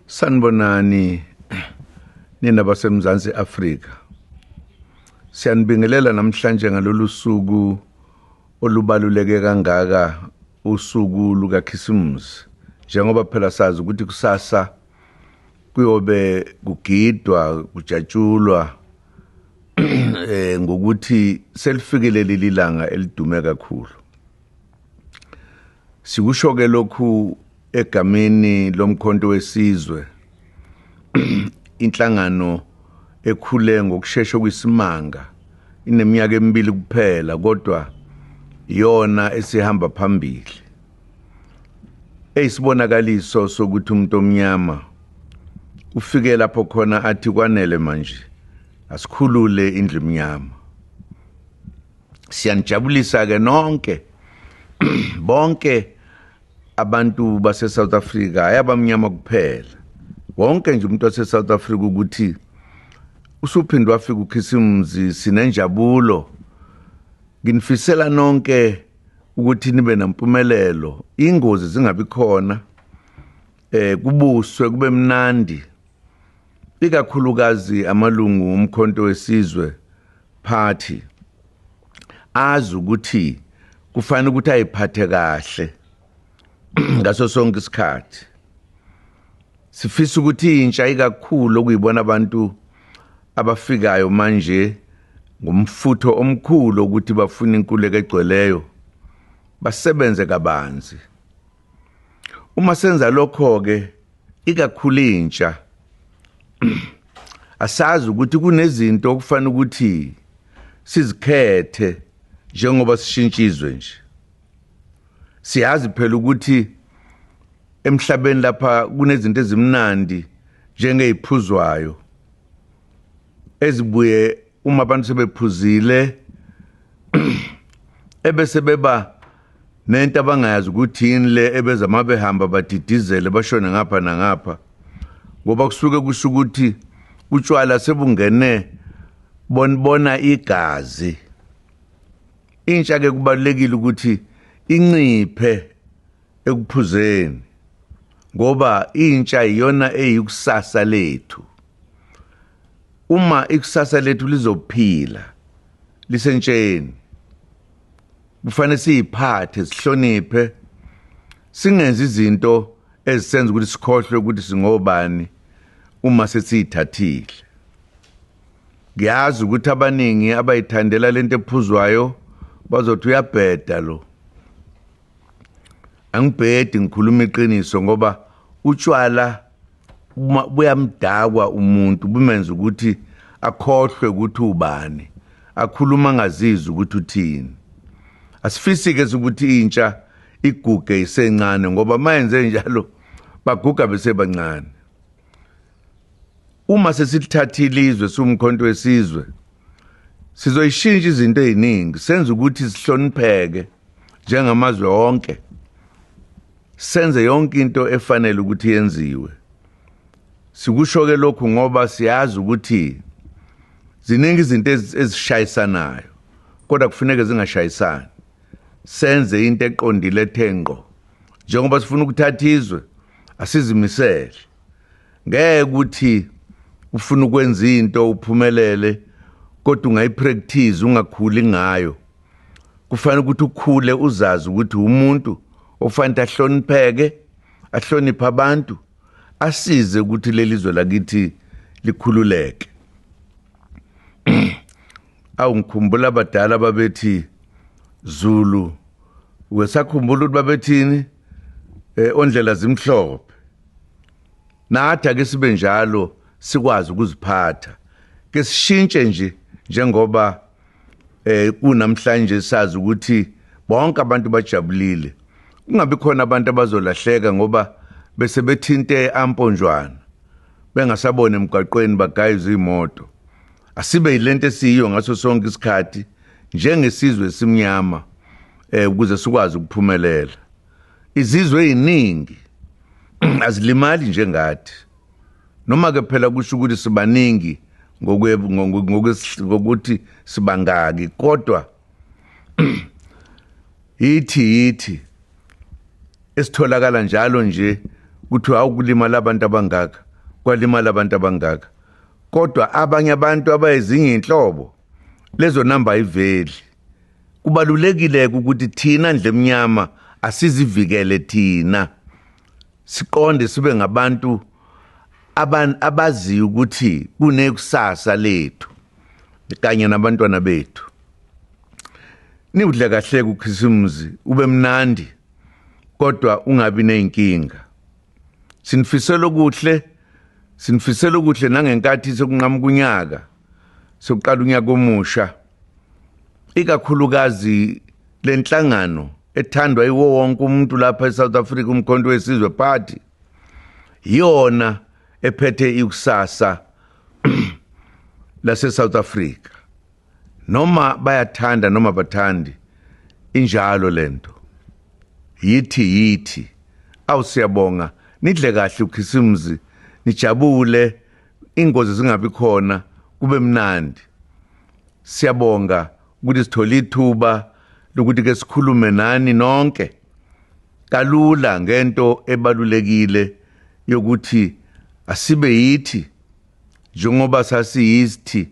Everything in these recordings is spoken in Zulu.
sanibonani nina basemzansi afrika siyanibingelela namhlanje ngalolu suku olubaluleke kangaka usuku lukakhisimusi njengoba phela sazi ukuthi kusasa kuyobe kugidwa kujatshulwa eh ngokuthi selifikile leli langa elidume kakhulu Sikusho ke lokhu egameni lomkhonto wesizwe inhlangano ekhule ngokushesha kwisimanga ineminyaka emibili kuphela kodwa iyona esihamba phambili eyisibonakaliso sokuthi umuntu omnyama ufike lapho khona athi kwanele manje asikhulule indlu emnyama siyanijabulisa ke nonke bonke abantu base South Africa ayabamnyama kuphela wonke nje umuntu wase South Africa ukuthi usuphinde wafika ukhisimuzi sinenjabulo nginifisela nonke ukuthi nibe nampumelelo ingozi zingabi khona eh kubuswe kube mnandi ikakhulukazi amalungu omkhonto wesizwe party azi ukuthi kufanele ukuthi ayiphathe kahle ngaso sonke isikhathi sifisa ukuthi intsha ikakhulu okuyibona abantu abafikayo manje ngomfutho omkhulu ukuthi bafuna inkululeko egcweleyo basebenze kabanzi Uma senza lokho-ke, ikakhulu intsha, asazi ukuthi kunezinto okufanele ukuthi sizikhethe njengoba sishintsha izwe nje. Siyazi phela ukuthi emhlabeni lapha kunezinto ezimnandi njengey'phuzwayo ezibuye uma abantu sebephuzile ebese beba nento abangayazi ukuthi yini le ebeza uma behamba badidizele bashone ngapha nangapha ngoba kusuke kusho ukuthi utshwala sebungene bonibona igazi intsha ke kubalekile ukuthi inciphe ekuphuzeni ngoba intsha iyona eyikusasa lethu uma ikusasa lethu lizophila lisentsheni kufanele siyiphathe sihloniphe singenzi izinto ezisenza ukuthi sikhohlwe ukuthi singobani uma sesiyithathile ngiyazi ukuthi abaningi abayithandela lento ephuzwayo bazothi uyabheda lo angibhedi ngikhuluma iqiniso ngoba utshwala uma buyamdakwa umuntu bumenza ukuthi akhohlwe ukuthi ubani akhuluma ngazizwe ukuthi uthini asifisi-ke ukuthi intsha iguge isencane ngoba mayenze njalo baguga besebancane uma sesithathile izwe siwumkhonto wesizwe sizoyishintsha izinto eziningi senza ukuthi sihlonipheke njengamazwe onke Senze yonke into efanele ukuthi yenziwe. Sikusho-ke lokhu ngoba siyazi ukuthi ziningi izinto ezishayisanayo kodwa kufuneke zingashayisani. Senze into eqondile ethe ngqo. Njengoba sifuna ukuthatha izwe, asizimisele. Ngeke ukuthi ufuna ukwenza into uphumelele kodwa ungayipractice ungakhuli ngayo. kufanele ukuthi ukhule uzazi ukuthi umuntu ofanele ahlonipheke ahloniphe abantu asize ukuthi leli zwe lakithi likhululeke awu ngikhumbula abadala babethi Zulu wesakhumbula ukuthi babethini eh ondlela zimhlophe Nathi ake sibe njalo sikwazi ukuziphatha. Ke sishintshe nje njengoba eh kunamhlanje sazi ukuthi bonke abantu bajabulile. Kungabi khona abantu abazolahleka ngoba bese bethinte amponjwana bengasabona emgwaqweni bagayiza izimoto. Asibe yilento esiyiyo ngaso sonke isikhathi njengesizwe simnyama eh ukuze sikwazi ukuphumelela. Izizwe eziningi azilimali njengathi. Noma ke phela kusho ukuthi sibaningi ngokuthi sibangaki kodwa yithi yithi esitholakala njalo nje kuthiwa awukulimala abantu abangaka kwalimala abantu abangaka kodwa abanye abantu abayezinye inhlobo lezo namba ayiveli kubalulekile-ke ukuthi thina ndlemnyama asizivikele thina siqonde sibe ngabantu abaziyo ukuthi kunekusasa lethu kanye nabantwana bethu niwudle kahle kukhisimuzi ube mnandi kodwa ungabi nezinkinga sinifisela okuhle sinifisela okuhle nangenkathi sekunqamuka unyaka sokuqala unyaka omusha ikakhulukazi le nhlangano ethandwa iwo wonke umuntu lapha e-south africa umkhonto wesizwe party yiyona ephethe ikusasa lase-south africa noma bayathanda noma bathandi injalo le nto yithi yithi awu siyabonga nidle kahle ukhisimuzi nijabule ingozi zingabi khona kube mnandi siyabonga ukuthi sithole ithuba lokuthi ke sikhulume nani nonke kalula ngento ebalulekile yokuthi asibe yithi njengoba sasiyithi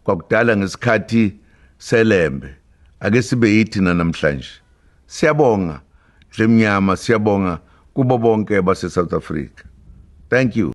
kwakudala ngesikhathi selembe ake sibe yithi namhlanje siyabonga dlemnyama siyabonga kubo bonke base South Africa thank you